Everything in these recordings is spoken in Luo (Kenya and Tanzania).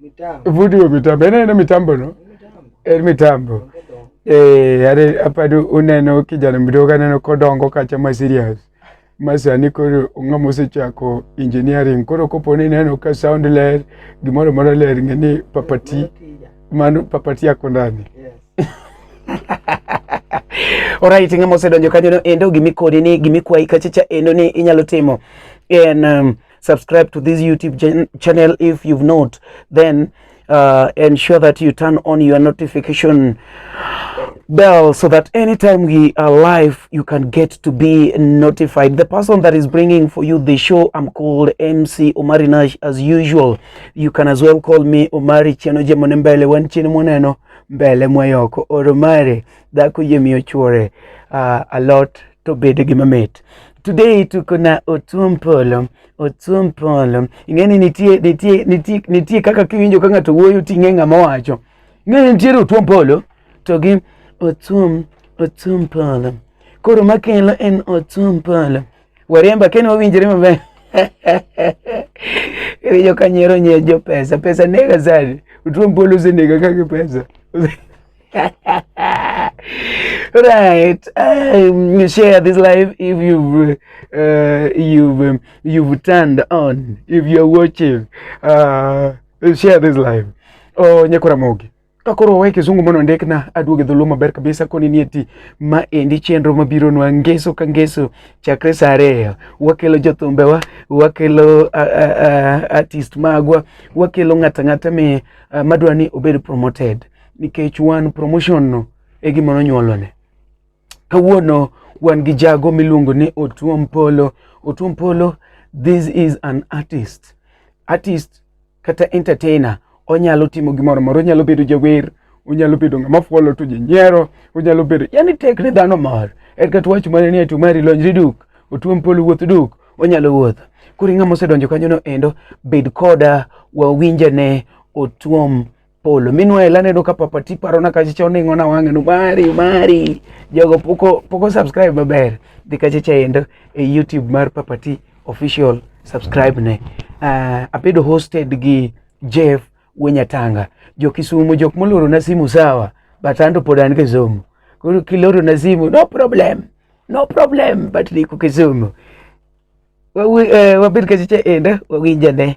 mitambo vudiwe mitambo ena ena mitambo no en mitambo eh yare apadu uneno kijana mdogo aneno kodongo kacha ma serious masani koro ng'a mosechako engineering koro kopo ni ineno ka sound ler gimoro moro ler ng'e ni papati mano papati yako ndani Alright, ng'ama osedonjo kanyo no endo gimikoni ni gimikwayi kachacha endo ni inyalo timo en um, subscribe to this YouTube channel if you've not then uh, ensure that you turn on your notification bell so that anytime we are live you can get to be notified the person that is bringing for you the show i'm called mc omari nash as usual you can as well call me omari chenoje monembele wanchini moneno mbele mwayoko or omari dhako yie miyo chuore uh, a lot to bed gi mamit today tuko na otuom polo otuom polo ing'eni nitie nitie nitie nitie kaka kiwinjo ka ng'ato wuoyo ting'e ng'ama wacho ing'eni nitiere otuom polo to gi otuom otuom polo koro makelo en otuom polo waremba kene wawinjre maber Yo kanyero nye jo pesa pesa nega sana utuom polo usenega kake pesa right. Um, share this live if you've uh, you've um, you've turned on. If you're watching, uh, share this live. Oh, nyakura mogi kakoro wae kizungu mono ndek na aduoge dhulu maber kabisa koni ni eti ma endi chenro mabiro nwa ngeso ka ngeso chakre saa ariyo wakelo jothumbewa wakelo uh, uh, artist magwa wakelo ng'ata ng'ata mi uh, madwa ni obed promoted nikech wan promotion no e gima nonyuolone. Kawuono wan gi jago miluongo ni Otuom Polo. Otuom Polo, this is an artist. Artist kata entertainer onyalo timo gimoro moro, onyalo bedo jawer, onyalo bedo ng'ama fuolo to ji nyiero, onyalo bedo yani tek ne dhano mor. En kata wach mane ni atu mari lonjri duk, Otuom Polo wuoth duk, onyalo wuotho. Koro ing'ama osedonjo kanyono endo, bed koda wawinjane Otuom polo minwa ela nedo ka papa ti paro na kache cho ningo na wange no mari mari jogo poko poko subscribe maber dhi kache cha endo e youtube mar papa ti official subscribe ne uh, abedo hosted gi jeff wenyatanga jo kisumu jok moloro na simu sawa but ando pod an kisumu koro kiloro na simu no problem no problem but liko kisumu wabed kache cha endo wawinjane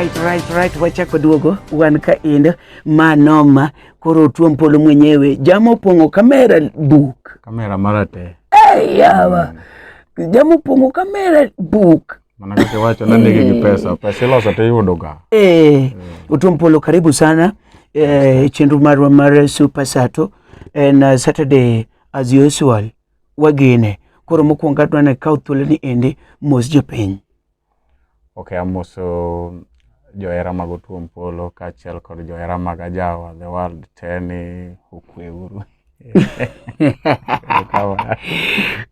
right, right, right. Wachako duogo wan ka endo ma noma koro tuom polo mwenyewe jamo pongo kamera buk kamera mara te hey, yawa mm. jamo pongo kamera buk mana kake wacho na nigi gi pesa pesa iloso te yudo ga eh mm. utuom polo karibu sana eh, chendu marwa mar super sato and uh, saturday as usual wagene. Koro mokwongo adwa ni kaw thuolo ni endi mos jopiny. Okay, amoso johera mag Otuom Polo kaachiel kod johera mag Ajawa the world te ni okwe uru.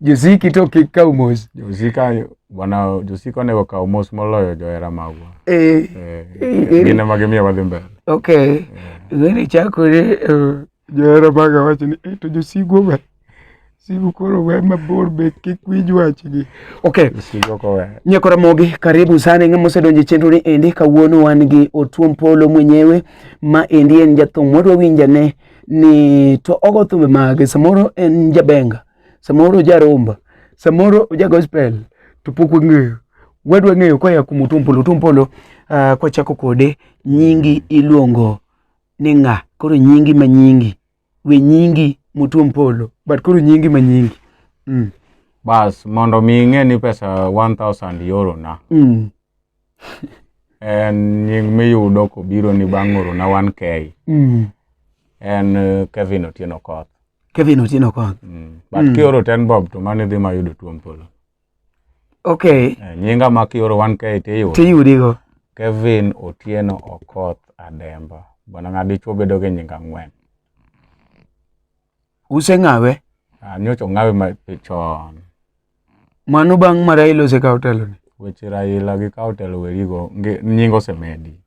Josiki to kik kaw mos. Josika bwana Josika onego kaw mos moloyo johera magwa. Eh. eh gine magimiyo wadhi mbele. Okay. Eh. Gini chakore uh, Johera maga wacho ni eh, to josigu we sigu koro we mabor be kik winj wachgi. Okay. Sigo ko we. Nyako Ramogi, karibu sana ng'ama osedonjo e chenro ni endi. Kawuono wan gi Otuom Polo mwenyewe ma endi en jathum wadwa winjane ni to ogo thumbe mage. Samoro en jabenga, samoro jaromba, samoro oja gospel to pok wang'eyo. Wadwa ng'eyo koya kuom Otuom Polo. Otuom Polo, uh, kwachako kode nyingi iluongo ni ng'a koro nyingi ma nyingi we nyingi mutuom polo but koro nyingi ma nyingi mm. bas mondo mi ing'e ni pesa 1000 euro na mm. en nying miyudo kobiro ni bang' oro na 1k mm. en eh, Kevin Otieno Koth Kevin Otieno Koth mm. but mm. kioro ten bob to mane dhi mayudo tuom polo Okay. Eh, nyinga ma kioro 1K tiyudo. Tiyudi go. Kevin Otieno Okoth Ademba. Bwana ng'a dichuo bedo gi nyinga ng'wen. Use ng'awe. Ah, nyocho ng'awe ma chon. Mano bang' ma Raila osekawo telo ni. Weche Raila gi kawo telo werigo nyingo osemedi.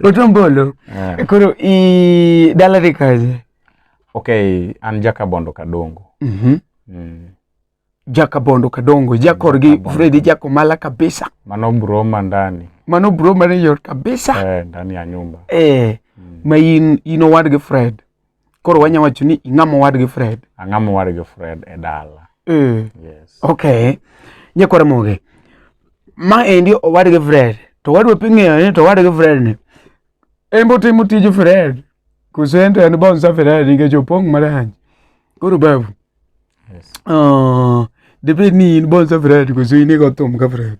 Otombolo. Yeah. Koro i dala dhi kaje. Okay, an Jakabondo Kadongo. Mhm. Mm mm. Jakabondo Kadongo, jakor gi Freddy Jakomala kabisa. Mano broma ndani. Mano broma ni yor kabisa. Eh, ndani ya nyumba. Eh, mm. ma in ino wad gi Fred. Koro wanya wacho ni ing'amo wad gi Fred. Ang'amo wad gi Fred e dala. Eh. Yes. Okay. Nyakwara moge. Ma endi owad gi Fred. To wadwa ping'eyo ni to wad gi Fred ni. En bo timo tij Fred. Kusento en bon sa Fred nikech opong' marach. Koro babu. Yes. Uh, debed ni in bon sa Fred kusini go thum ka Fred.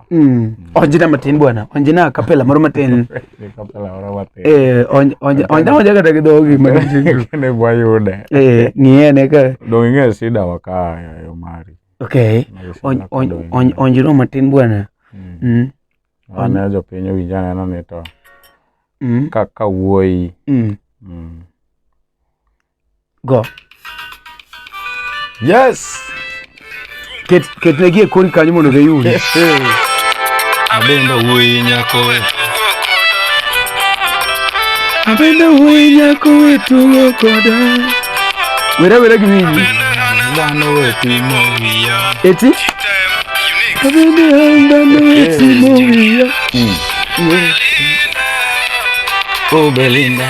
Mm. Onjina matin bwana, onjina kapela moro matin. Kapela moro matin. Eh, onj onj onj onj kata gi dhogi matin. Ne bwa yude. Eh, ng'iye ne ka. Dong ing'e sida wa ka yo mari. Okay. Onj onj onj onjino matin bwana. Mm. mm. Wana jo piny owinja neno ni to. Mm. Ka ka wuoyi. Mm. Mm. Go. Yes. Ket ket ne gie kori kanyo mondo giyud. Abenda wuoyi nyako we. Abenda wuoyi nyako we tugo koda. Wera wera gi winyi. Dhano we timo wiya. Eti? Abenda dhano we timo wiya. Oh Belinda.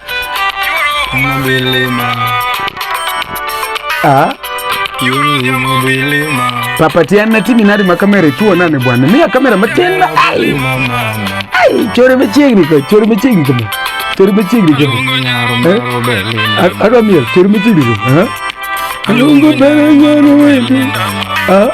Ah. papatiana timi nari makamera ituonane bwana miya kamera matenda ai ai chore machiegni ka chore machiegni kama chore machiegni kama adwa miel chore machiegni kama alungu bere nyaro wendi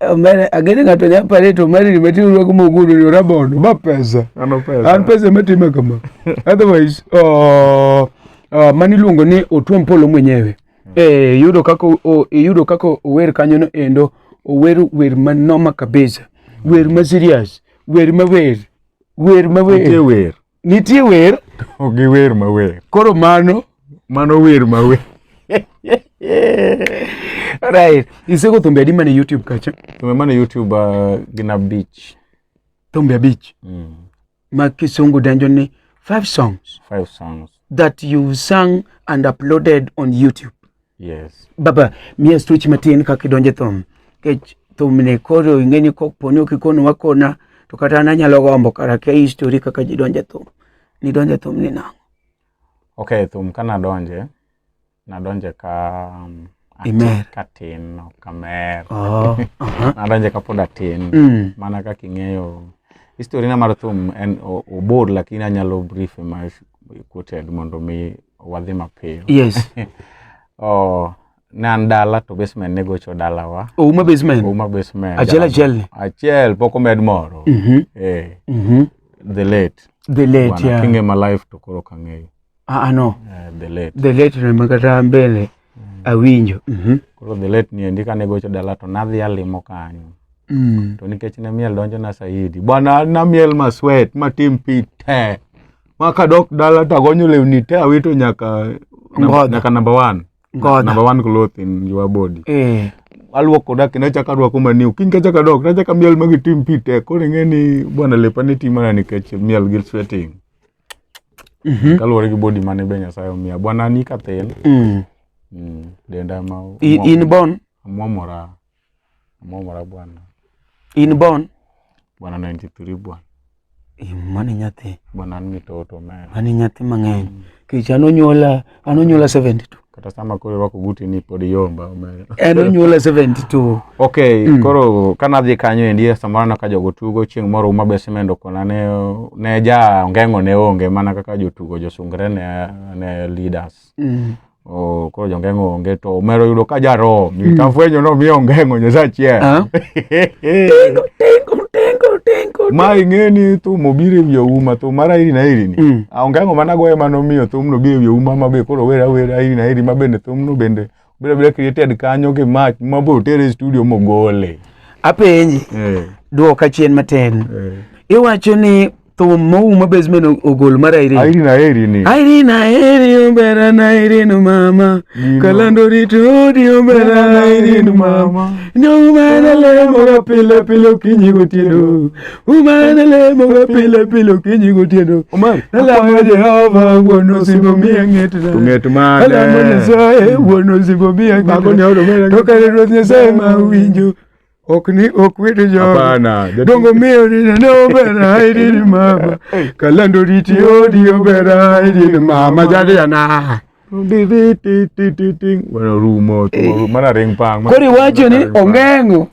Omera agene ng'ato nya pare to omera ni meti urwako moguru ni rabon ma pesa. Ano pesa. An pesa metime kama. Otherwise uh, uh, mani luongo ni Otuom Polo mwenyewe. Mm. Eh yudo kako o, e yudo kako ower kanyo no endo ower wer manoma kabisa. Wer ma serious. Wer ma wer. Wer ma wer. Wer. nitie wer ogi wer mawer koro mano mano wer mawer right isego thumbe adi mane youtube kacha thumbe mane youtube uh, gin abich thumbe abich mm. ma kisungu denjo ni five songs five songs that you sung and uploaded on youtube Yes. Baba, miya stuchi matin kaka idonje thum. Kech thum ne koro ingeni kok poni ok ikonu wakona to kata an anyalo gombo kara kia histori kaka ji donje thum. Ni donje thum ni nang'o? Okay, thum ka nadonje, nadonje ka um, ati- Imer. ka tin, ok kamer. Oh, aha. nadonje ka pod atin. Mm. Mana kaka ing'eyo histori na mar thum en o- obor lakini anyalo brief ma We quoted mondo mi wadhi mapiyo. Yes. oh, ne an dala to basement ne gocho dalawa. Ouma basement. Ouma basement. Achiel achiel ni. Achiel pok omed moro. Mm -hmm. Eh. Mm -hmm. The late. The late, Wana, yeah. Kinge ma life to koro kang'eyo. Ah, ah no. Eh, the late. The late ne makata mbele. Mm. Awinjo. Mm -hmm. Koro the late ni endi kane gocho dala to nadhi alimo kanyo. Mm. To nikech ne miel donjo na saidi. Bwana na miel ma sweat ma tim pi te. Ma kadok dala to agonyo lewni te awito nyaka namba- Ngodho. nyaka namba one. Ngodho. Namba one cloth in your body. Eh. Aluoko da kendo achako aruako maniu. Kiny kachako adok to achako miel magi tim pi te. Koro ing'e ni bwana lepa ne ti mana nikech miel gi sweating. Mhm. Kaluwore gi body mane be Nyasaye omiya. Bwana ni kathel. Mm. Mm. Denda ma I- In born? amwamora. Momora bwana. In born? Bwana 93 bwana. Mani nyathi. Bwana an mitoto man. Mani nyathi mang'eny. Mm. Kech an onyuola, an onyuola 72. Kata sama koro irwako guti ni pod yomba omera. En onyuola 72. Okay, mm. koro ka nadhi kanyo endi samoro na ka jogo tugo chieng' moro uma besemendo kona ne ne ja ongeng'o ne onge mana kaka jotugo josungre ne ne leaders. Mm. Oh, koro jongeng'o onge to omero yudo ka jarom mm. tafwenyo no miyo ongeng'o nyosa achiel ah. ma ing'e ni thum obiro e wi ouma thum mar airi na airi ni mm. ah, ongeng'o mana goye mano miyo thum no biro e wi ouma ma be koro wer awer airi na airi ma bende thum no bende obiro abira created kanyo gi mach ma biro tere e studio mogole apenji eh. dwoka chien matin eh. iwacho ni thum mouma basement ogol mar Irene. Irene aheri ni. Irene aheri ombera na Irene mama. Kalando rito di ombera na Irene mama. No mana le moga pile pile kinyi gotieno. Umana le moga pile pile kinyi gotieno. Umar. Alamo Jehova wono sibo miya ngetna. Nget mane. Alamo Nyasaye wono sibo miya ngetna. Bago ne odo mera. Tokare Ruoth Nyasaye ma winjo. ok ni ok wede joga dongo miyo ninene obera aidini mama kalando riti odi obera aidini mama jadiyana mana ring pang kori wacho ni ongeng'o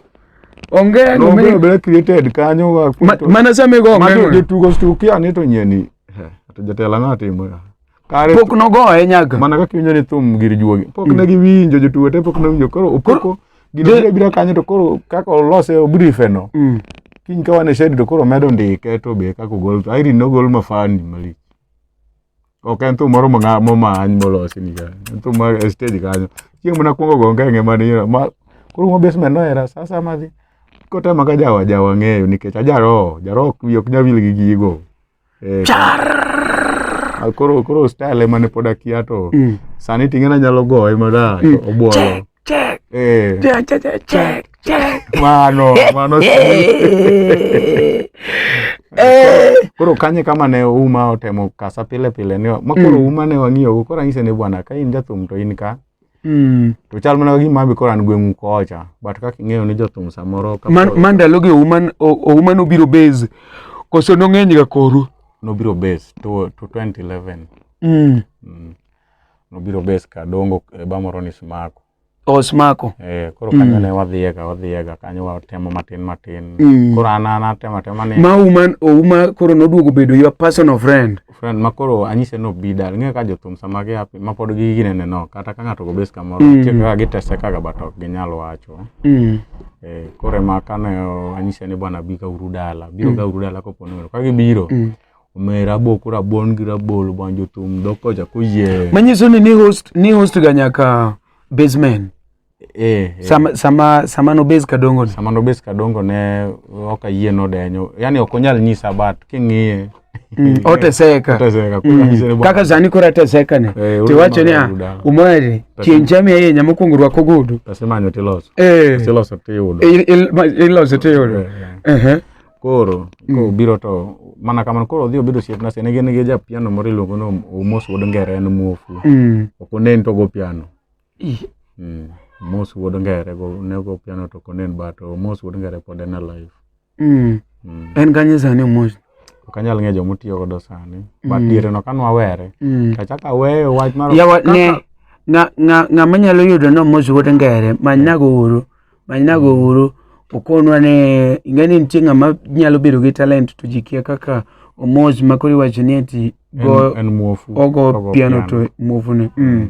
ongeng'o nobere created kanyo mana samigo ongeng'o jotugo stukia ni to nyeni to jatela ngatimo Kare pok nogoye nyaga. Mana kaka iwinjo ni thum gir juogi. Pok ne giwinjo jotugo te pok nowinjo koro opoko gino biro biro kanyo to koro kaka olose obrife no. Mm. Kiny ka wan e shed to koro medo ndike to be kaka ogol to Irene nogol mafani malich. Ok en thum moro mong'a- momany molosi ni kanyo. En thum mar e stage kanyo. Chieng' mana kwongo go ngenge man ira ma koro mo basement no era sa sa madhi. Kotema ka jawa jawa ng'eyo nikech ajaroho jaroho wiye ok nyawil gi gigo. Eh, Char! Koro koro style ema ne pod akia to mm. sani tinge na nyalo goye mada mm. obuolo. Check, check. Eh. Check, check, check, check, check. Mano, mano. Eh. eh. Koro kanye kama ne uma otemo kasa pile pile ni ma koro mm. uma ne wang'iyo koro anyise ne bwana ka in jathum to in ka Mm. To chal mana gima abi koro an gweng'u kocha, but kaka ing'eyo ni jothum samoro ka Man, man ndalogi Ouma o- Ouma nobiro base koso nong'eny ga koru. nobiro base to, to 2011 Mm. mm. nobiro base kadongo e bamoro ni smako Osmako. eh, koro Mm. kanyo ne wadhiyega wadhiyega kanyo watemo matin matin Mm. koro an an atemo atema ni Ma Ouma Ouma koro noduogo bedo your personal friend. friend ma koro anyise ni obi dala ing'eyo ka jothum sama gia piny ma pod gi ginene no kata ka ng'ato go base kamoro Mm. nitie kaka gitesekaga but ok ginyal wacho Mm. Eh, koro ema kane anyise ni bwana bi kauru dala biro Mm. kauru dala kopo ni ka gibiro Mm. omi raboko rabuon gi rabolo bwan jothum dok kocha koyie Manyiso ni ni host ni host ga nyaka basement. Eh, eh. Sama, sama, sama nobes kadongo ni. Sama nobes kadongo ne ok ayie nodenyo. Yaani ok onyal nyisa but king'iye mm, oteseka oteseka mm. kaka sani koro ateseka ne eh, tiwacho ni ah, umari chieng' chami ahinya mokwongo rwak ogudu tasemanyo tiloso eh. tiloso tiyudo iloso tiyudo koro mm. kobiro to mana kamano koro odhi obedo osiepna sani gin gi japiano moro iluongo ni omos wuod ngere en muofu mm. ok onen to go piano Mm. Mos wuod ngere go ne go piano to konen but oh, Mos wuod ngere pod en alive. Mm. Mm. En kanye sani mos. Ok anyal ng'eyo joma otiyo godo sani. But Mm. diere no kane wawere. Mm. To achako aweyo wach mar Yawa kaka- ne nga nga nga manyalo yudo no mos wuod ngere manyna go uru. Manyna go uru. Okonwa ne ingeni nitie ng'ama nyalo bedo gi talent to ji kia kaka omos makori wacho ni ati go en, en muofu. ogo Ogo piano to muofune. Mm.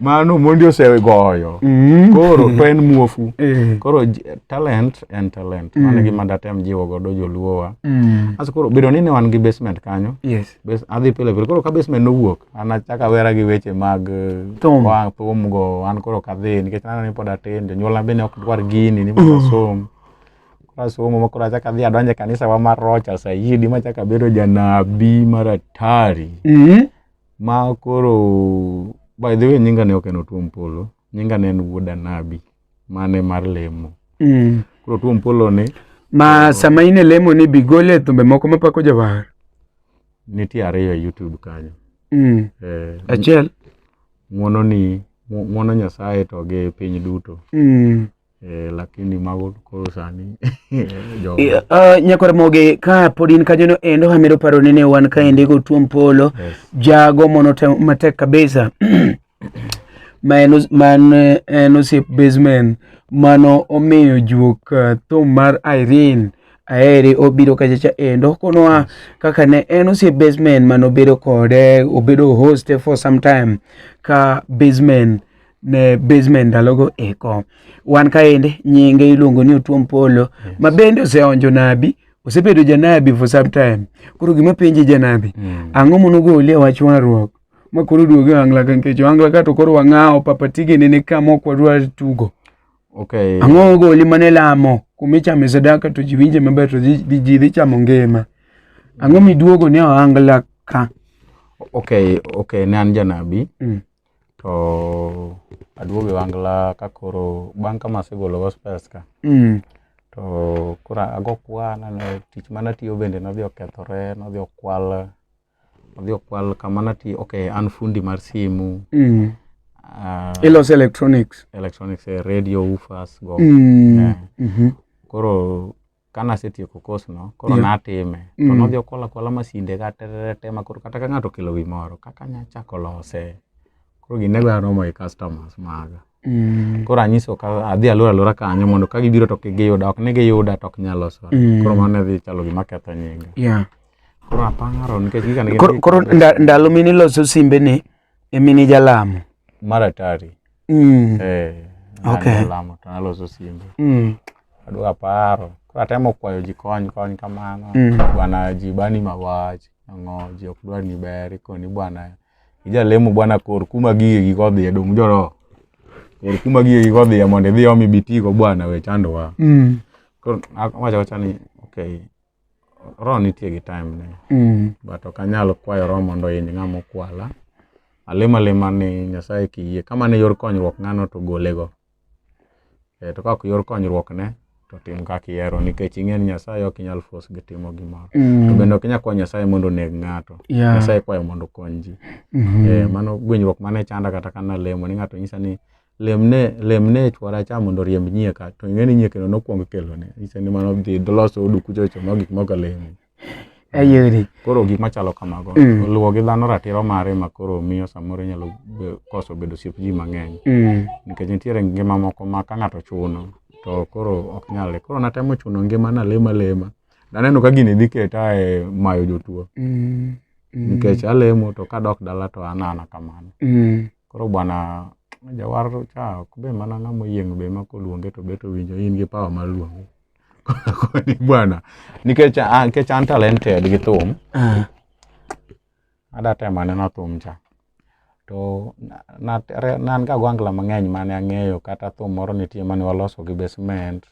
mano mondi osegoyo mm. koro to en muofu eh. koro talent en talent mm. mano gima datem jiwo godo joluowa mm. aso koro bedo ni ne wan gi basement kanyo yes. Bas, adhi pile pile koro ka basement nowuok an achaka wera gi weche mag eh, thum go an koro kadhi nikech nano ni pod atin jonyuolna bende ok dwar gini ni mondo asom koro asomo ma koro achaka dhi adonje kanisa wa mar rocha sayidi machaka bedo janabi maratari mm -hmm. Ma koro by the way nyinga ne ok en Otuom Polo, nyinga ne en Wuod Anabi mane mar lemo. Mm. Koro Otuom Polo ni Ma sama in e lemo ni bigole thumbe moko mapako jawar. nitie ariyo e YouTube kanyo. Mm. Eh, Achiel. ng'wono ni ng'wono Nyasaye to gi piny duto. Mm. Eh, lakini magod koro sani eh, ah, nyakore moge ka pod in kanyono endo hamero paro nene wan ka ende go tuom polo jago mono matek kabisa man man eh, en osiep basement mano omiyo juok ah, thum mar Irene aere obiro kachacha endo konoa kaka ne en osiep basement mano obedo kode obedo host for some time ka basement ne basement ndalogo eko wan kaende nyinge iluongo ni otuom polo yes. ma bende oseonjo nabi osebedo janabi for some time koro gima penje janabi mm. ang'o monogolie wach warruok ma koro duoge wangla ka nikech wangla ka to koro wang'awo papatige nene ka mok wadwa tugo okay. ang'o ogoli mane lamo kuma ichame sadaka to ji winje maber to ji dhi chamo ngima ang'o miduogo ne oangla ka okay okay ne an janabi mm. to aduogo e wangla ka koro bang' ka masegolo gospels ka mm. to koro ago kwan ne tich mana tiyo bende nodhi okethore nodhi okwal nodhi okwal kama natiyo ok an fundi mar simu mm. uh, ilos electronics electronics eh, radio ufas go mm. yeah. mm -hmm. koro ka nasetieko kosno koro Yeah. natime to Mm. nodhi okwala kwala masinde ka tererete ma koro kata ka ng'ato okelo wi moro kaka nya chako lose koro gine gwa romo gi customers maga Mm. koro anyiso ka adhi alora alora kanyo mondo ka gibiro to kik giyuda ok ni giyuda to ok nyal loso Mm. koro mano ne dhi chalo gima ketho nyinga Yeah. koro aparo nikech gika ne gin Koro gik koro mabeyo. nda- ndalo mine loso simbe ni Emi ni jalamo. Maratari. Mm. Eh. Okay. Jalamo to naloso simbe. Mm. Adwa paro. Koro atemo kwayo ji kony kony kamano. Mm. Bwana ji bani mawach. Ang'o ji ok dwar ni ber ikoni bwana. Ijalemo bwana kor kuma gige gi kodhi e dum joro. Kor kuma gige gi kodhi e mondo idhi omi bitigo bwana we chandowa. Mm. Koro awacho wacha ni okay. Roho nitie gi time ne. Mm. But ok anyal kwayo Roho mondo oiny ng'ama okwala. Alima lima ni Nyasaye kiyie. Kama ne yor konyruok ng'ano to golego. E, to kako yor konyruok ne to tim kaka ihero nikech ing'e ni Nyasaye ok inyal force gi timo gimoro. Mm. To bende ok inyal kwayo Nyasaye mondo oneg ng'ato. Yeah. Nyasaye kwayo mondo okony ji. Mm -hmm. E, mano gwenyruok mane chanda kata kana lemo ni ng'ato nyisa ni lemne lemne chwora cha mondo riemb nyieka to ing'eni nyiekeno nokwong kelone ise ni mano dhi doloso odu kuchocho ma gik moko lemi ayeri koro gik machalo kamago mm. luwo gi dhano ratiro mare ma koro miyo samoro nyalo koso bedo siep ji mang'eny mm. nikech nitiere ngima moko ma ka ng'ato chuno to koro ok nyale koro natemo chuno ngima na lema lema naneno ka gini dhi keta e mayo jotuo mm. mm. nikech alemo to kadok dala to anana kamano mm. Koro bwana jawar cha ok be mana ng'ama oyieng' be ma koluonge to bet owinjo in gi power mar luonge. Koni bwana nikech an nikech an talented gi thum Ah, ada temo aneno thum cha. To na- na- re- ne an ga gwangla mang'eny mane ang'eyo kata thum moro nitie mane waloso gi basement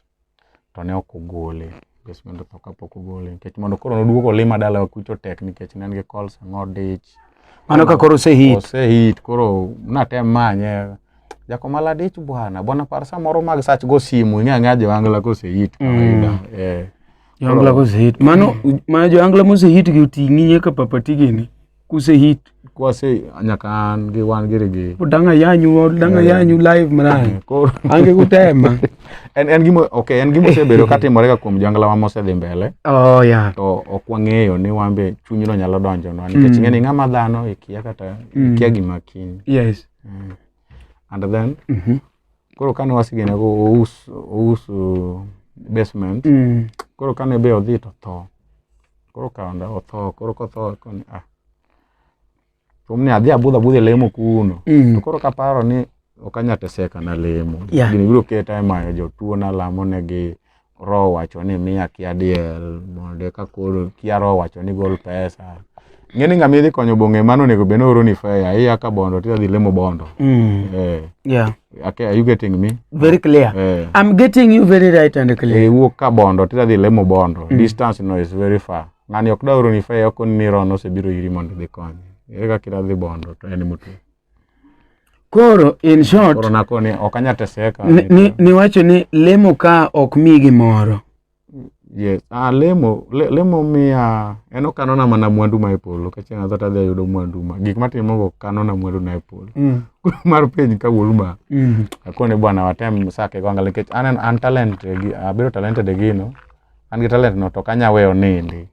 to ne ok ogole nikech mondo otho kapok ogole nikech mondo koro noduog olima dalawa kucho tek nikech ne en gi kols ang'o dich mano ka koro osehit osehit koro natem manye jakomala dich bwana bwana par samoro mag sach go simu ing'e ang'eya joangla kosehit kawaida mm. eh. joangla kosehit mano mana joangla mosehit gi oting'i nyaka papatigini kuse hit kwase nyaka an gi wan giri gi danga yanyu danga eh. yanyu live mna eh, koro ange kutema en en gimo okay en gimo sebedo katimore ka kuom jangla ma mose dhi mbele oh yeah to ok wang'eyo ni wambe chunyno nyalo donjo no nikech mm. ng'eni ng'ama dhano ikia kata mm. ikia gima kiny yes mm. and then mm -hmm. koro kane wasigene go ous ous uh, basement Mm. koro kane be odhi to tho koro kaonda otho koro kotho koni ah rom ni adhi abudh abudh e lemo kuno to Mm. koro kaparo ni ok anyateseka na lemo Yeah. gini biro keta e mayo jotuo nalamo negi roho wacho ni miya kia diel mondo ka koro kia roho wacho ni gol pesa ng'eni ng'ama idhi konyo bong'e mano onego bed nooro ni fea iya ka bondo tidhi dhi lemo bondo mm. eh. yeah. okay, are you getting me very clear eh. i'm getting you very right and clear eh, wuok ka bondo tidhi dhi lemo bondo mm. distance no is very far ng'ani ok daoro ni fea ok ni rono osebiro iri mondo idhi konye ere kaka idhi dhi bondo to en mutu Koro in short koro nakoni ok anyal teseka ni- ni- niwacho ni lemo ka ok mi gimoro. yes ah, lemo le, lemo miya en okanona mana mwandu ma e polo ka chieng' adho tadhi ayudo mwandu ma gik matimogo kanona mwandu na e polo Mm. Koro mar piny ka wuoru ma Mm. akoni bwana watem sake go angal nikech an an talent gi abedo talented e gino an gi talent no to ok anya weyo nindi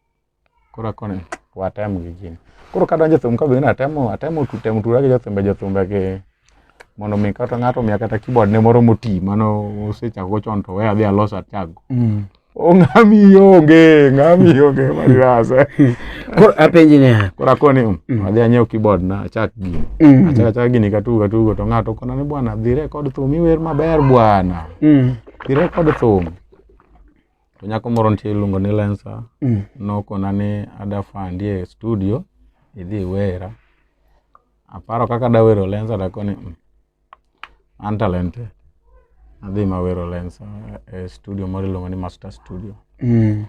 Koro koni watem gi gini. Koro ka donjo thum ka be atemo atemo temo tura gi jothumbe jothumbe gi mondo mi kata ng'ato miya kata keyboard ne moro moti mano osechako chon to we adhi alos achago. Mm. Ong'ami onge, ng'ami onge marasa. Koro apenji niya. Koro akoni um, mm. adhi anyiew keyboard na achak gini. Mm. Achak achak gini katugo katugo to ng'ato kona ni bwana dhi record thum iwer maber bwana. Mm. Dhi record thum. to nyako moro nitie iluongo ni lensa mm. nokona ni adafandi e studio idhi iwera aparo kaka dawero lensa dakoni mm. an talented adhi mawero lensa e studio moro iluongo ni master studio mm.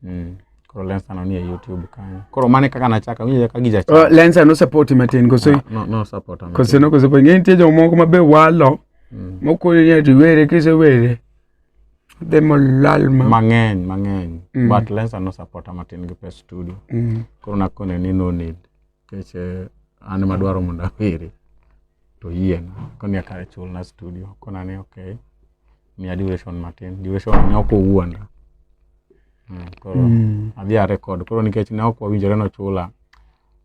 Mm. koro lensa no nie youtube kanyo koro mane kaka nachaka winjo ka gija oh, lensa no support matin koso ah, no, no support koso no koso ng'e nitie jomoko mabe walo mm. mokoni ni ati were kisewere demo lal ma mang'eny mang'eny mm. but lensa no support amatin gi pes studio mm. koro nakone ni no need keche eh, an madwaro mondo aweri to yien koni akare chul na studio kona ni okay miya duration matin duration ne ok owuonda mm, koro mm. adhi a record koro nikech ne ok wawinjore no chula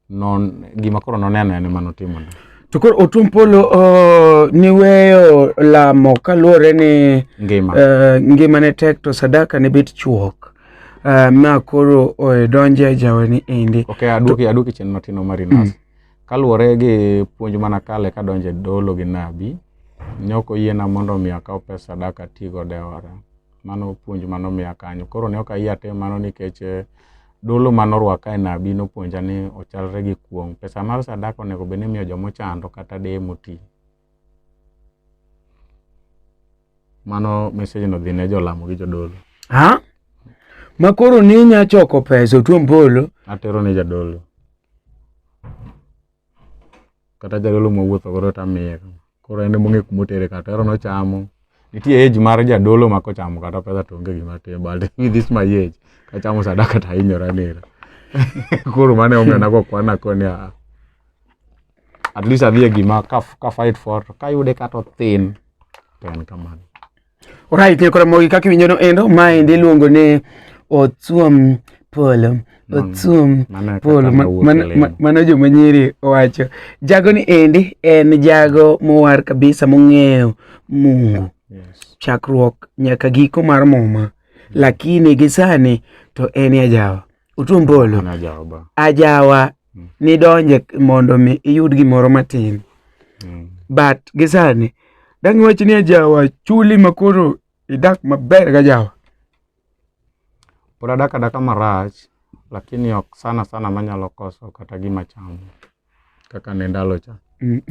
non gima koro noneno en ema notimo ne To koro Otum Polo uh, niweyo lamo kaluwore ni ngima uh, ngima ne tek to sadaka ne bet chuok uh, ma koro uh, donje jaweni endi ok aduoki aduoki chien matin omari nas kaluwore gi puonj mana kale kadonje dolo gi nabi ne ok oyiena mondo mi akaw pesa sadaka atigo dewara Mano puonj mano miya kanyo. Koro ne ok ayie atim mano nikech eh, dolo mano orwaka e nabi nopuonja ni ochalre gi kuong'. Pesa mar sadaka onego bed ni imiyo joma ochando kata deye moti. Mano message no dhi ne jolamo gi jodolo. Ha? Ma koro ni inya choko pesa otuom polo. Atero ne jadolo. kata jadolo mawuotho godo to amiye koro en emong'e kuma otere kata ero nochamo nitie age mar jadolo ma kochamo kata pesa to onge gima tim but with this my age kachamo sadaka to ahinyora nera koro mane omiyo nagokwana koni a ah. at least adhi e gima ka fight for to kayude kata othin to en kamano Alright, nyo kora mogi kaki winyo no endo, ma endi luongo ne Otsuom Polo. Otsuom Polo, mano jo manyiri wacho. Jago ni endi, en jago mowar kabisa mong'eyo Mungu. Yes. Chakruok nyaka giko mar muma. Lakini gisani to en ya jawa. utumbolo ajawa mm. nidonje mondo mi iyud gimoro matin mm. but gisani dang' iwach ni ajawa chuli makoro idak maber ga jawa pod adak adaka marach lakini ok sana sana manyalo koso kata gima chamo kaka ne ndalo cha mm.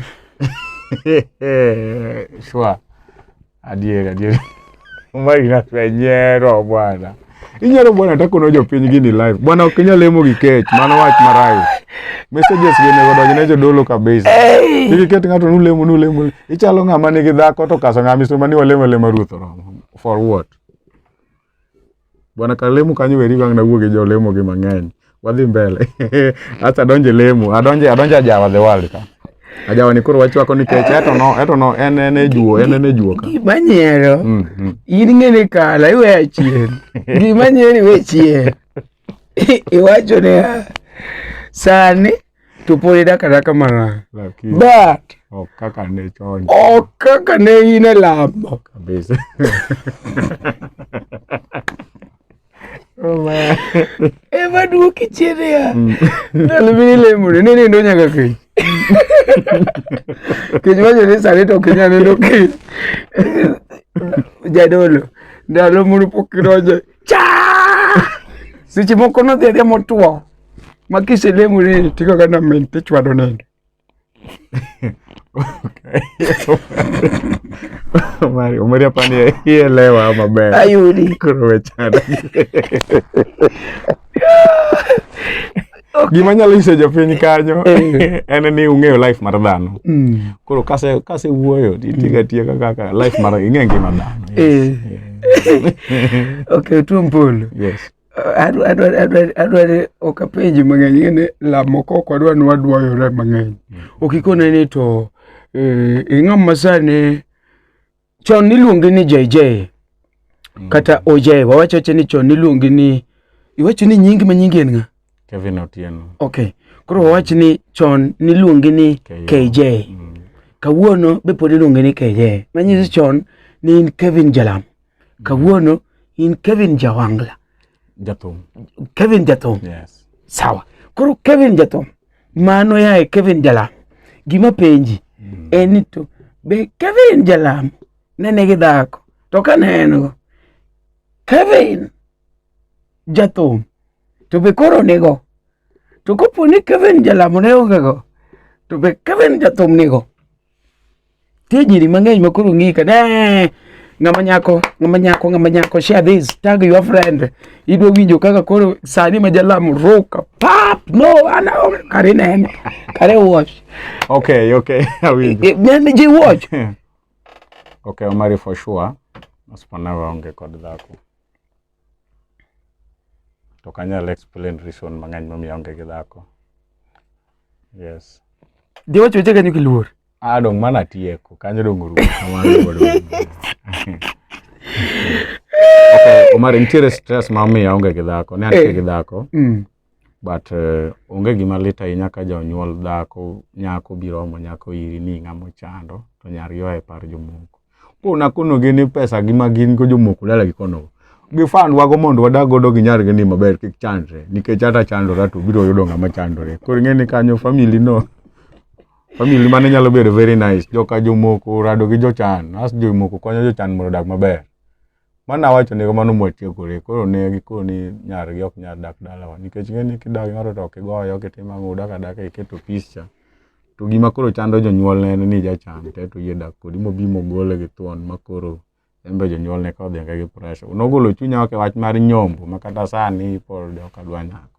shwa adier adier mari natwenyero bwana inyalo bwana hata kono jopiny gini live bwana ok inyal lemo gi kech mano wach marach messages gi nego donjo ne jodolo kabisa iki ket ng'ato nulemo nulemo ichalo ng'ama nigi dhako to kaso ng'ama iso mani walemo lema ruoth oromo for what Bwana Kalemu kanyo weri bang' na wuoge jo lemo gi mang'eny. Wadhi mbele. Acha donje lemo. Adonje adonje ajawa the world ka. Ajawa ni koro wachwako ni kech eto no eto no en en e juo en en e juo ka. Gima nyiero. Mm, mm. In ng'ene kala iwe achien. Gima nyiero iwe chien. iwacho ni ah, sani to pod idak adaka mana but ok kaka ne chon ok kaka ne in e lamo kabisa oh, ema duoki chien ya mm. ndalo mine lemone ne nindo nyaka kiny kech wacho ni sani to kinya nindo kiny jadolo ndalo moro pok idonjo cha seche moko nodhi adhiya motwo ma kiselemo ni tiko kana min tichwado nindo Omari, Omari hapa ni ielewa maber. ayudi Koro wechana. Okay. Gima nyalo nyiso jopiny kanyo eh. en ni ung'eyo life mar dhano. Mm. Koro kase kase wuoyo titiga mm. tieka kaka life mar ing'e ngima dhano. Yes. Eh. okay, tuo mpolo. Yes. adware ok apenji mang'eny ngene lamo kok wadwa ni wadwayore mang'eny mm. ok ikone ni to eh, ing'ama sani chon niluongi ni JJ mm. kata OJ wawacho che ni chon niluongi ni iwacho ni nyingi ma nyingi en ng'a Kevin Otieno okay koro wawacho ni chon niluongi ni KJ, KJ. Mm. kawuono be pod iluongi ni KJ manyiso mm. chon ni in Kevin Jalam mm. kawuono in Kevin Jawangla Jathum Kevin Jathum yes sawa koro Kevin Jathum Mano yaye Kevin Jalam. Gima penji mm. en ni to be Kevin Jalam ne nigi dhako to ka ne en go Kevin jathum to be koro nigo to kopo ni Kevin Jalam ne onge go to be Kevin jathum nigo Tie nyiri mang'eny ma koro ng'ika ne ng'ama nyako ng'ama nyako ng'ama nyako share this tag your friend idwa winjo kaka koro sani ma jalam ruka pap no ana kare nene kare watch okay okay awinjo eh, nene ji watch okay omari for sure asipanawe onge kod dhako to ok anyal explain reason mang'eny momiyo aonge gi dhako yes Giwacho weche kanyo kiluor. ah dong mana atieko kanyo dong orumo kamano godo okay omar nitiere stress ma omiyo aonge gi dhako ne an Eh. gi dhako Mm. but uh, onge gima lit ahinya ka jonyuol dhako nyako biro omo nyako iri ni ng'ama ochando to nyari oa e par jomoko pona kono gin ni pesa gi ma gin go jomoko dala gi kono gifan wago mondo wadag godo gi nyar gi ni maber kik chandre nikech ata chandora to biro yudo ng'ama chandore koro ing'e ni kanyo family no family mane nyalo bedo very nice joka jomoko rado gi jochan as jomoko konyo jochan mondo odag maber Mana wacho ni kamano mwatiekore. Koro ne gikoni nyargi ok nyar dak dalawa. Nikech ng'eni kidak ng'ato to ok igoye, ok itim ang'o, udak adaka iketo peace cha. To gima koro chando jonyuolne en ni jachan to eto oyie dak kodi mobi mogole gi thuon ma koro en be jonyuolne ka odhi gi pressure. Nogolo chunya ok e wach mar nyombo ma kata sani pod ok adwa nyako.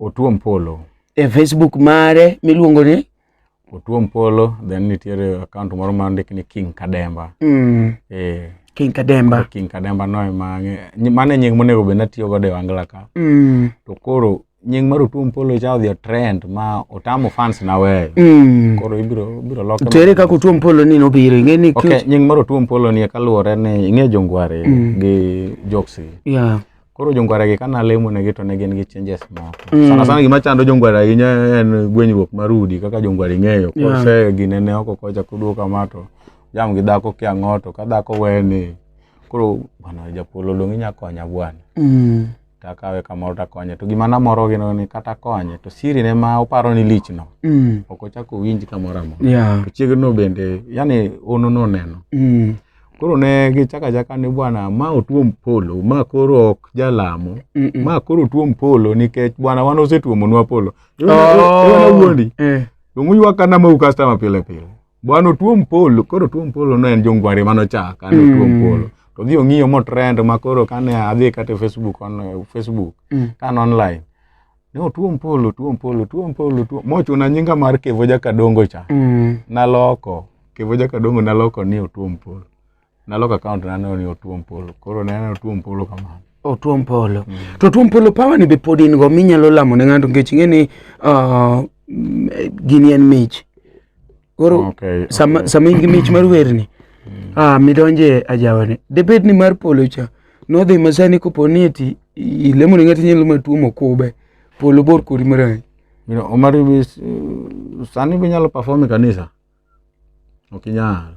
Otuom Polo. E Facebook mare miluongo ni Otuom Polo, then nitiere account moro ma ndik ni King Kademba. Mm. Eh. King Kademba. King Kademba no ema mano e nying monego bed natiyo godo e Wangla ka. Mm. To koro nying mar Otuom Polo cha odhi trend ma otamo fans na weyo. Mm. Koro ibiro ibiro loke. To ere kaka Otuom Polo ni nobiro ing'e ni Okay, nying mar Otuom Polo ni kaluwore ni ing'e jongware mm. gi Joksi. Yeah. Koro jongwaragi ka nalemonegi to ne gin gi changes moko. Mm. Sana sana gima chando jongwara ahinya en gwenyruok mar udi kaka jongwara ing'eyo. Yeah. Kose gine ne oko kocha kuduo kama to jam gi dhako kia ng'oto ka dhako weni koro bwana japolo dong' inya konya bwana. Mm. Takawe kamoro takonye to gima namoro gino ni kata konye to siri ne ma oparo ni lich no Mm. ok ochako owinj kamoro amora. Yeah. To chiegno bende yani ono noneno. Mm. koro ne gichaka chaka ni bwana ma otuom polo ma koro ok jalamo Mm, mm. ma koro tuom polo nikech bwana wan osetuomonwa polo Oh. wuondi Eh. omuywak kana mau customer pile pile bwana otuom polo koro tuom polo ne en jongwari mano chaka ne otuom Mm. polo to dhi ong'iyo mo trend ma koro kane adhi kata e facebook on facebook Mm. kan online ne otuo mpolo tuo mpolo tuo mpolo tuo mochuna nyinga mar kevo jakadongo cha mm. naloko kevo jakadongo naloko ni otuo mpolo naloko akaont naneno ni otuo mpolo koro naneno otuo mpolo kamano otuo mpolo mm. to otuo mpolo pawa ni be pod in go minyalo lamo ne ng'ato nikech ing'e ni uh, gini en mich Koro okay, sama okay. sama in gi mich mar werni mm. ah midonje ajawani. Debed ni mar polo cha nodhi masani kopo ni eti ilemo ni ngati nyalo matuo mokube polo bor kori marani. You know, Omari bi sani bi nyalo perform e kanisa. Okinyal. Okay,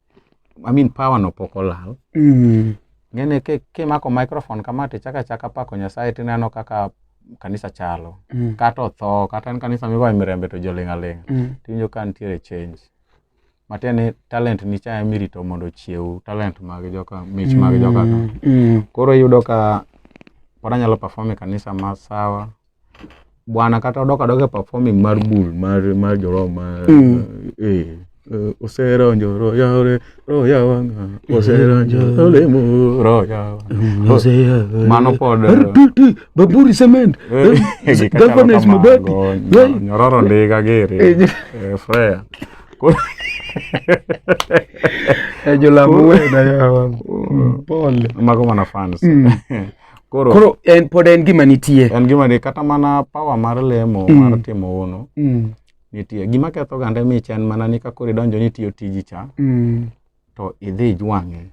I mean power no pok olal mm. ng'ene kimako ki microphone kama to ichaka chaka pako nyasaye tineno kaka kanisa chalo mm. kata otho kata en kanisa migoye mirembe to joling' aling' mm. tiwinjo ka nitiere change matiende ni talent ni cha emirito mondo ochiew talent mag joka mich mag joka mm. mm. koro iyudo ka pod anyalo perform e kanisa ma sawa bwana kata odok adoka performing mar bul mar mar joro mar mm. eh, eh oseronjo roya ore roya wanga oseronjo mm. olemo roya mm. mm. mano pod baburi cement eh, governance mabati nyororo ndiga gere eh, freya ejo lamu wena yawa pole mago mana fans Koro, Koro en pod en gima nitie. en gima ni kata mana power mar lemo Mm. mar timo hono Mm. nitie. Gima ketho gande mich en mana ni kakoro idonjo ni tiyo tiji cha Mm. to idhi ijwang'e.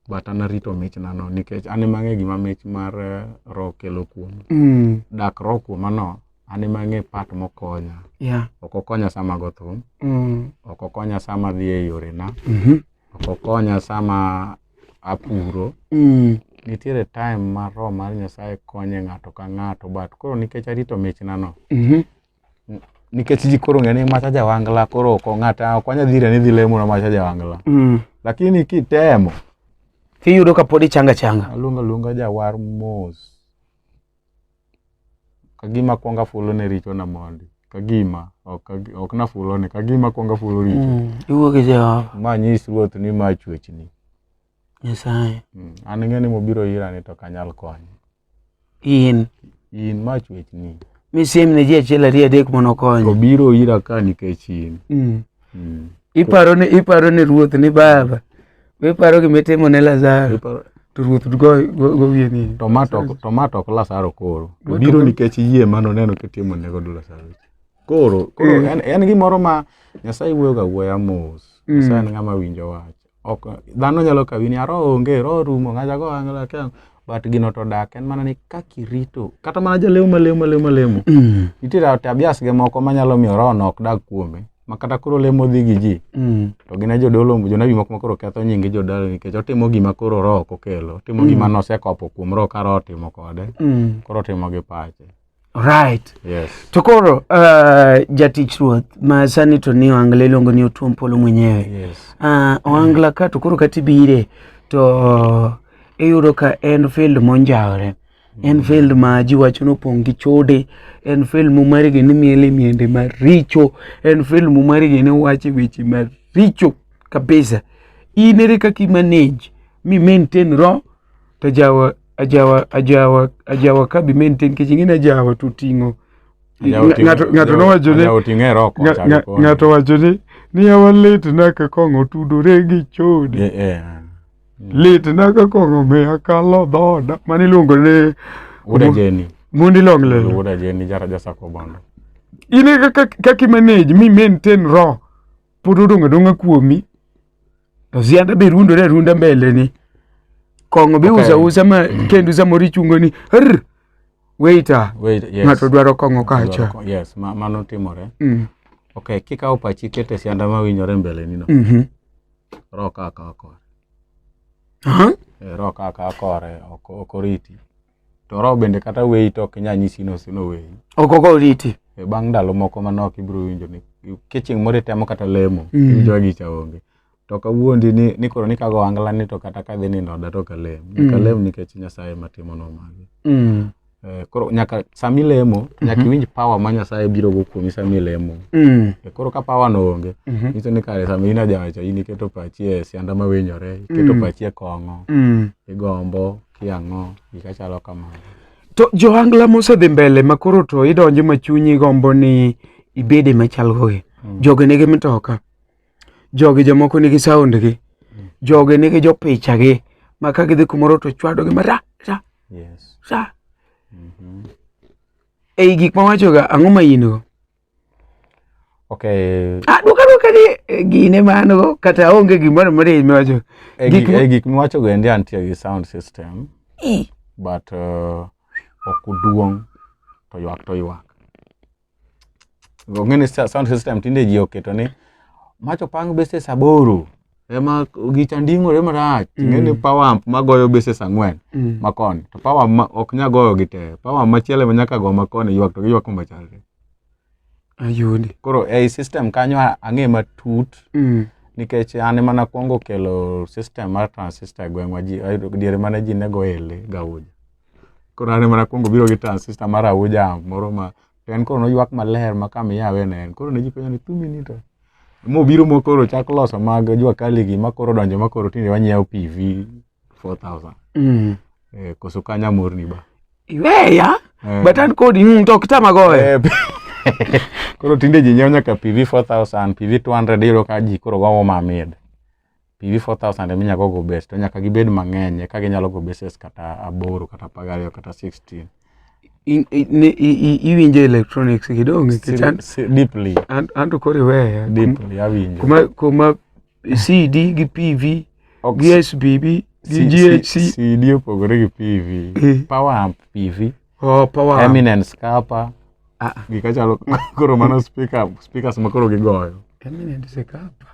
But an arito mich nano nikech an ema ang'e gima mich mar eh, roho kelo kuom. Mm. Dak roho kuoma no an ema ang'e part mokonya. Yeah. Ok okonya sama go thum, Mm. ok okonya sama adhi e yorena, Mhm. ok okonya sama apuro mm. nitiere time ma roho mar nyasaye konye ng'ato ka ng'ato but koro nikech arito michna no mm -hmm. nikech ji koro ng'e ni macha jawangla koro ok ng'ata ok wanya dhire ni dhi lemo na macha jawangla mm. lakini kitemo tiyudo ka pod ichanga changa aluonga luonga jawar mos kagima kwonga fulo ne richo na mondi kagima ok na fulo ne kagima kwonga fulo richo mm, iwuo gi Jehova ma nyis ruoth ni ma chwechni Nyasaye mm, an ng'e ni mobiro ira ni to kanyal konye in in ma chwechni misim ne ji achiel ariyo adek mondo okonye obiro ira ka nikech in mm. mm. iparo ni iparo ni ruoth ni baba iparo gima itimo ne lazaro to ruoth gowie nini to ma to ok lazaro koro to biro nikech yie ma noneno kitimo ne godo lazaro koro koro eh. en gimoro ma nyasaye wuoyoga wuoya mos mm. nyasaye en ng'ama winjo wach ok dhano nyalo kawi ni aro onge ro rumo ngaja go angla ke but gino to dak en mana ni kaki rito kata mana jalemo malemo malemo malemo mm. nitiere tabias ge moko manyalo miyo ro nok dak kuome ma kata koro lemo dhi gi ji mm. to gin jodolo jonabi moko makoro ketho nying jodolo nikech otimo gima koro ro ok okelo otimo mm. gima nosekopo kuom ro ka ro otimo kode mm. koro otimo gi pache Right. Yes. To koro uh, jatich ruoth ma sani to ni Ohangla iluongo ni Otuom Polo mwenyewe. Yes. Uh, Ohangla ka to koro kata ibire to iyudo ka en field monjawore. En field ma ji wacho ni opong' gi chode, en field mumarigi ni miele miende maricho, en field mumarigi ni wache weche maricho kabisa. In ere kaka i manage mi maintain ro to jawa ajawa ajawa ajawa ka bi maintain kech ing'eni ajawa to oting'o ng'ato ng'ato nowacho ni oting'e roko nga- nga- ng'ato wacho ni niya walit na ka kong'o tudore gi chode Eh, eh. lit na ka kong'o miya kalo dhoda mane iluongo ni Wuoda Jeni. mundi long lelo Wuoda Jeni jara jasako bondo. ine kaka kaka imanage mi maintain ro pod odong' adong'a kuomi To sianda be rundore arunda mbele ni. Kong'o be usa usa ma kendo samoro ichungo ni "Arr, waiter. Wait, yes. Ng'ato dwaro kong'o kacha. Yes, ma- mano timore. Mm. Okay, kikawo pachi iketo e sianda ma winjore mbele nino. Mhm. Roho ka akawa kore. Aha. Eh, Roho ka akawa kore ok ok oriti. to roho bende kata weyi to ok inyal nyisi ni osenoweyi ok ok oriti E, bang' ndalo moko manok ibiro winjo ni ka chieng' moro itemo kata lemo Mm. iwinjo gicha onge to ok awuondi ni, ni koro ni kago angla ni to kata kadhi nindo oda to ok alem nyaka Mm. lem nikech nyasaye ema timonwa magi Mm, Eh, koro nyaka sama ilemo nyaka Mhm. iwinj power ma nyasaye biro go kuomi sama ilemo mm, Eh, koro ka power no onge mhm, nyiso ni kare sama in ajawacha in iketo pachi e sianda mawinyore iketo Mm. pachi e kong'o mm, igombo kiang'o gika chalo kamano to johangla mosedhi mbele ma koro to idonjo ma chunyi gombo ni ibede machal gogi mm. jogi nigi mtoka jogi jomoko nigi sound gi mm. jogi nigi jopicha gi ma ka gidhi kumoro to chwado gi ma ra ra yes. ra mm -hmm. ei gik ma wachoga ang'o ma in go Okay. Ah, duka duka ni eh, gine mano kata onge gimoro moro e miwacho. E gik e gik miwacho go endi antie gi sound system. E. But uh, ok uduong to ywak to ywak. Go ngene sound system tinde ji oketo ni macho pang bese saboro. ema gicha nding'ore marach mm. ing'e ni power amp magoyo bases ang'wen mm. makoni to power ma, ok nya goyo gi te power machielo ema nyaka go makoni ywak to giywak kuma chalre ayudi koro ei system kanyo ang'e matut mm. nikech an ema nakwongo kelo system mar transistor e gweng'wa ji diere mane ji ne go ele gauja koro an ema nakwongo biro gi transistor mar auja moro ma to en koro noywak maler ma kama iyawe ne en koro ne ji penjo ni thumi ni to mobiro mokoro chak loso mag jwakaligi makoro donjo makoro tinde wanyiewo pv 4000 mm. eh, koso kanya morni ba iweya eh. but an kodi mm, to kitama gowe eh, koro tinde ji nyiewo nyaka pv 4000 pv 200 iyudo ka ji koro gowo mamid PV 4000 ema inyalo go base to nyaka gibed mang'eny eka ginyalo go bases kata aboro kata apar gariyo kata 16 In- i- ne- i- i- iwinjo electronics kidogo nikech an- Si- deeply an- an to koro iweya deeply awinjo kuma kuma cd gi pv Ok, gi sbb gi si- si- ghc CD opogore gi PV Eh. power amp PV Oh, power. Eminence kapa. Ah. ah. Gika chalo koro mano speaker, speakers ma koro gigoyo. Eminence kapa.